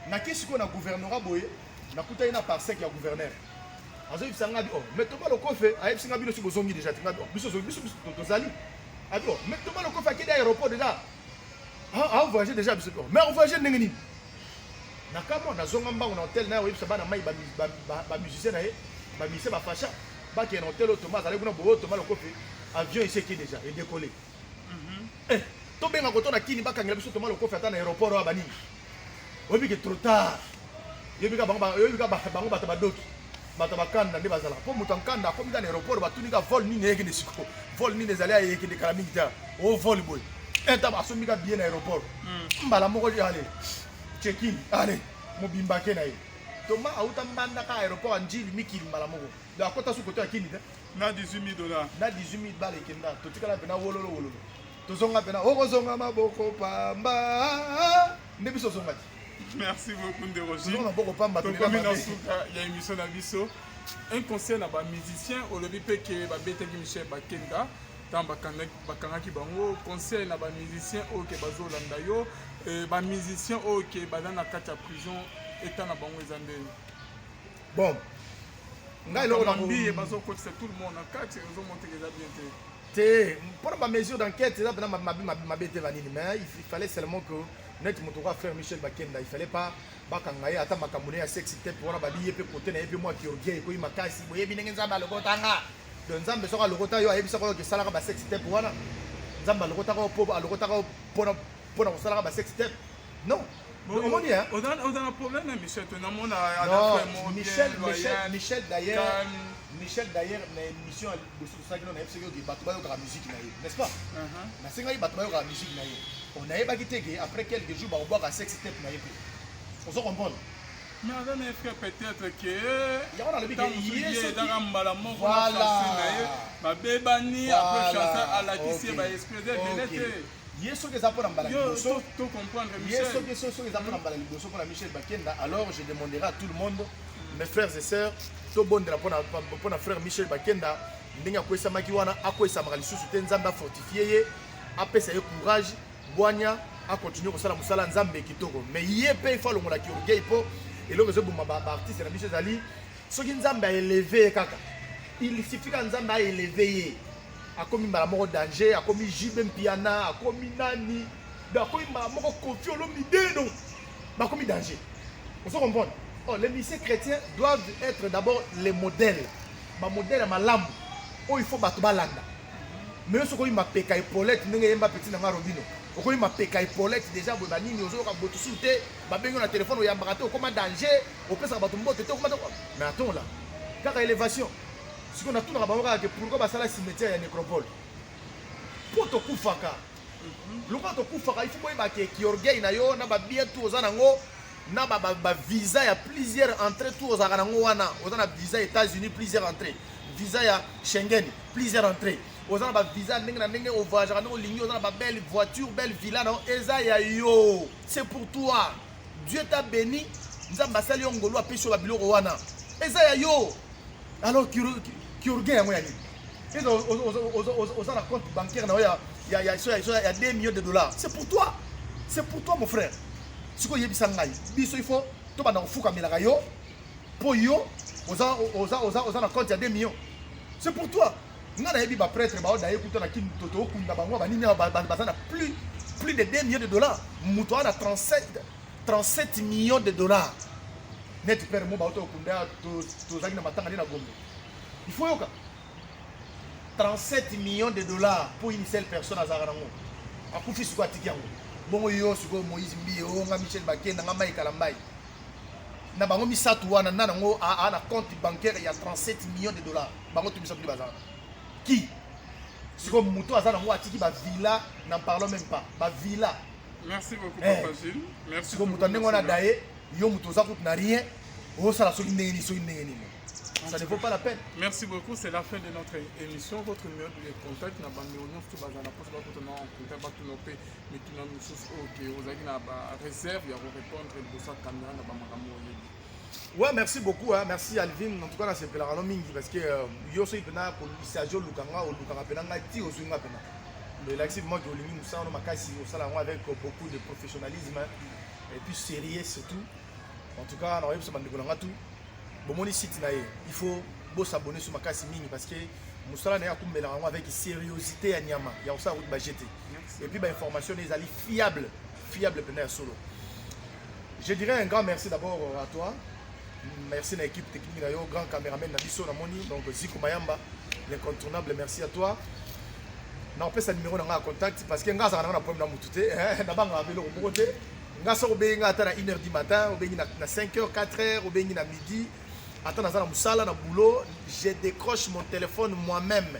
nake sikoyo na gouvernera boye nakutaki na parsec ya gouverneur azoyebisa ngai oh mais toma lokofe ayebisi ngai bino si bozongi deja te ngai oh, biso biso tozali abi oh mais toma lokofe akende aéroport deja Ah, ah, voyage déjà biso pe. Mais voyage ndenge nini? Na kama na zonga mbango na hotel na oyebisa bana mai ba ba musicien na ye, ba musicien ba facha, ba ke na hotel Thomas azali kuna bo Thomas lokofi, avion iseki déjà et décoller. Mhm. Eh, to benga ko to na kini bakangela biso Thomas lokofi ata na aéroport wa banini. oyebi ke trop tard yoyebi ka bango yoyebi ka bango bato badoki bato bakanda nde bazalaka mpo moto ankanda akomi ka na aéroport batuni ka vol nini eyekende siko vol nini ezali ayekende kala mingi ta o vol boye eta basombi ka billet na aéroport hmm. mbala moko ale chekin ale mobimba ke na ye toma auta mbanda ka aéroport anjili mikili mbala moko donc akota sukoto ya kini te na 18000 dollars na 18000 bala ekenda totikala mpe na wololo wololo tozonga pena okozonga maboko pamba nde biso ozonga te merci beaucoup ndeko jtozonga maboko pamba tokomi na suka ya émission na biso un conseil na bamusicien olobi mpe ke babetaki michel bakenda ntango bakangaki bango conseil na bamusicien oyo ke bazolanda yo euh, bamusicien oyo ke baza na kati ya prison eta na bango eza ndenge bon ngai eloko na mbiye bazokotisa tout le monde na kati ozomonteka eza bien te te mpona ba mesure d'enquête eza mpena mabe mabe mabe te banini mais il fallait seulement que neti moto okoa frère michel bakenda il fallait pas bakanga ye ata makambo ne ya sexe te mpo wana babi ye mpe kote na ye mpe mwa kiorgie ekoyi makasi boyebi ndenge nzambe alokotanga don nzambe soki alokota yo ayebisaka oyo esalaka basexe te mpo wana nzambe alokotaka yo mpo alokotaka yo mpona kosalaka basexe te Non. Omoni hein? On a on a un problème hein, Michel, tu n'as mon à Non, Michel, Michel, Michel d'ailleurs. Michel d'ailleurs na émission ya liboso tosalaki na yebisaki oke bato bayokaka miziki na ye n'est-ce pas uh-huh. nasengaki bato bayokaka miziki na ye on ayebaki te ke après quelques jours bakobwaka sex tape na ye mpe ozo comprendre mais aza na effet peut-être ke yango nalobi ezaka mbala moko na ye babebani apres chansa alakisi ye baexpose ebele te ye soki eza mpona mbala liboso ye soki soki eza mpona mbala liboso mpona michel bakenda alors je demanderai à tout le monde mes frères et sœurs tobondela mpona frère michel bakenda ndenge akwesamaki wana akwesamaka lisusu te nzambe afortifie ye apesa ye courage bwanya akontinue kosala mosala ya nzambe kitoko me ye mpe ifo alongola kiorgei mpo eloko ezoboma baartiste na biso ezali soki nzambe aeleve ye kaka il suffika nzambe aeleve ye akomi mbala moko danger akomi jibe mpiana akomi nani do akomi mbala moko kofi olomide donc bakomi danger ozo comprendre oh, les lycées chrétiens doivent être d'abord les modèles bamodèle ya malamu oyo il faut bato balanda mais yo soki oyi mapeka epolete ndenge yemba peti na nga robino okomi mapeka epolete déjà boye banini ozoyoka botusu te babengi na telefone oyambaka te okoma danger opesaka bato mbote te okoma te mais atongola kaka elevation sikoyo natunaka bango kaka ke pourkoi basala cimetière ya necropole mpo tokufaka lokola tokufaka ifo boyeba ke kiorgueil na yo na babien tu oza nango na bavisa ba, ba ya plusieurs entrée tu ozalaka nango wana oza na visa états-unis plusieurs entrée visa ya schengen plusieurs entrée oza na bavisa ndenge na ndenge ovoyageaka ndenge olingi oza na babelle voiture belle villa na yo eza ya yo c'est pour toi Dieu t'a béni, Nzambe asali yo ngolu apesi yo ba biloko wana. Eza ya yo. Alors chirurgien yango ya nini? Eza oza na compte bancaire na yo ya ya ya ya 2 millions de dollars. C'est pour toi. C'est pour toi mon frère. Siko yebisa ngai. Biso il faut to bana kofuka melaka yo po yo oza oza oza oza na compte ya 2 millions. C'est pour toi. Nga nayebi ba prêtre ba odaye kuta na kin toto okunda bango ba nini ba baza na plus plus de 2 millions de dollars mutu ana 37 37 millions de dollars net père mo ba oto okunda to to zaki na matanga na gombe il faut yoka 37 millions de dollars pour une seule personne à Zarango. À Koufi, c'est quoi Tikiango Bon, yo, c'est quoi Moïse Mbi, Onga, Michel Baké, Nanga Maï Kalambaï. na bango misato wana na nango aa na compte bancaire ya 37 millions de dollars bango to misato nde baza wana ki sikoyo moto aza nango atiki bavilla na parlant même pas bavilla merci beaucoup eh. papa Gilles merci sikoyo moto ndenge wana daye yo moto oza kutu na rien osala soki ndenge nini soki ndenge nini ça ne vaut pas la peine. Merci beaucoup, c'est la fin de notre émission. Votre numéro de contact, n'a pas de pour ça, en contact, mituna mosusu oyo ke ozalaki na bareserve ya korepondre liboso ya kamera na bamakambo oyebi Ouais, merci beaucoup, hein. merci Alvin. En tout cas, c'est pour la mingi parce que euh, yo suis pena pour Sergio Lukanga ou Lukanga pena ngati au swinga pena. Mais là, c'est moi qui olingi musa no makasi au sala avec beaucoup de professionnalisme hein. et puis sérieux surtout. En tout cas, na yebisa bandeko nanga tout. Bon moni site na ye, il faut bo s'abonner sur makasi mingi parce que musala na ya kumbela avec sérieuxité ya nyama. Ya osala route bajete. et puis ba information ne ezali fiable fiable pena ya solo je dirais un grand merci d'abord à toi merci na équipe technique na yo grand cameraman na biso na moni donc Ziko Mayamba l'incontournable merci à toi na opesa numéro na nga contact parce que nga azaka na nga na problème na mutu te eh, na banga biloko moko te nga soki obengi nga ata na 1 heure du matin obengi na 5 heures 4 heures obengi na midi ata naza na mosala na boulot je décroche mon téléphone moi-même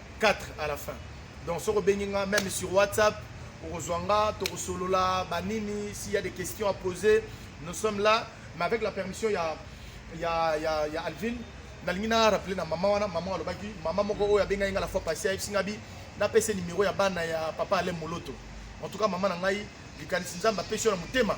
4 à la fin donc soki obengi nga même sur whatsapp okozwa nga tokosolola banini s'il y a des questions à poser nous sommes là mais avec la permission ya ya ya, ya alvin nalingi na rappeler na mama wana mama alobaki mama moko oyo abengaki nga la fois passé ayebisi nga bi napesa nimero ya bana ya papa ale moloto en tout cas mama na ngai likanisi nzambe apesi yo na motema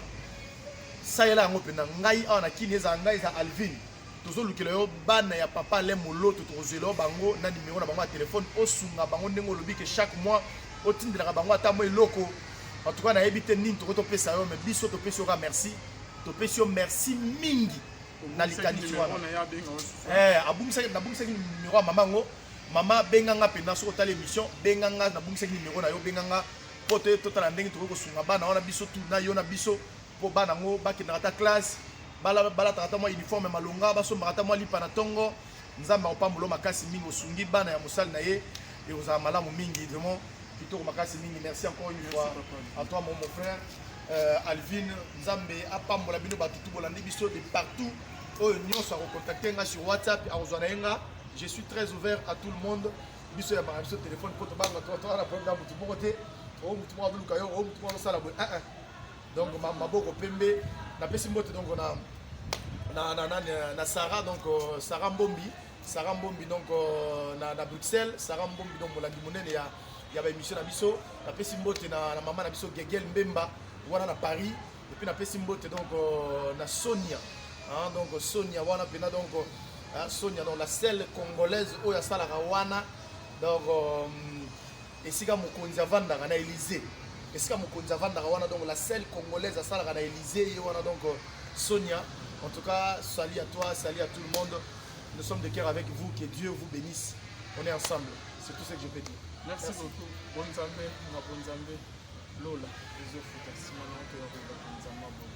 salela yango mpenza ngai awa na kini ezala ngai eza alvin tozolukela yo bana ya papa ale moloto tokozela yo bango na nimero na bango ya telefone osunga bango ndenge olobi ke chaque mois otindelaka bango ata mwa eloko en tout cas nayebi te nini tokoki topesa yo mais biso topesi yoka merci topesi yo merci mingi na likanisi wana eh, abungisaki nabungisaki nimero ya mama yango mama benga nga mpenza soki otali émission benga nga nabungisaki nimero na yo benga nga mpo te totala ndenge tokoki kosunga bana wana biso tu na yo na biso mpo bana yango bakendaka ata classe balataka ata mwa uniforme ya malonga basombaka ata mwa lipa na ntongo nzambe akopambola makasi mingi osungi bana ya mosali na ye ekozala malamu mingi vraiment kitoko makasi mingi merci encore une fois à toi mon, mon frère euh, alvine nzambe apambola bino bato tu bolandi biso de partout oyo nyonso akokontakte nga sur whatsapp akozwa na ye nga je suis très ouvert à tout le monde biso ya banga biso telefone mpo tobanga toana problème ya motu moko te oyo motu moko azoluka yo oyo motu moko azosala boye donc ma, maboko pembe napesi mbote donc na na na, na, na Sarah donc euh, Sarah Mbombi Sarah Mbombi donc euh, na, na Bruxelles Sarah Mbombi donc molandi monene ya ya ba émission na biso napesi mbote na, na mama na biso Gegel Mbemba wana na Paris et puis napesi mbote donc euh, na Sonia hein, donc Sonia wana pena donc hein, Sonia donc la seule congolaise oyo asalaka wana donc euh, esika mokonzi avandaka na Elysee esika mokonzi avandaka wana donc la seule congolaise asalaka na Elysee ye wana donc euh, Sonia en tout cas salut à toi salut à tout le monde nous sommes de cœur avec vous que Dieu vous bénisse on est ensemble c'est tout ce que je peux dire merci, merci. beaucoup bon Nzambe na bon Nzambe lola ezofuta nsima na oto ya koyeba mpenza mabongo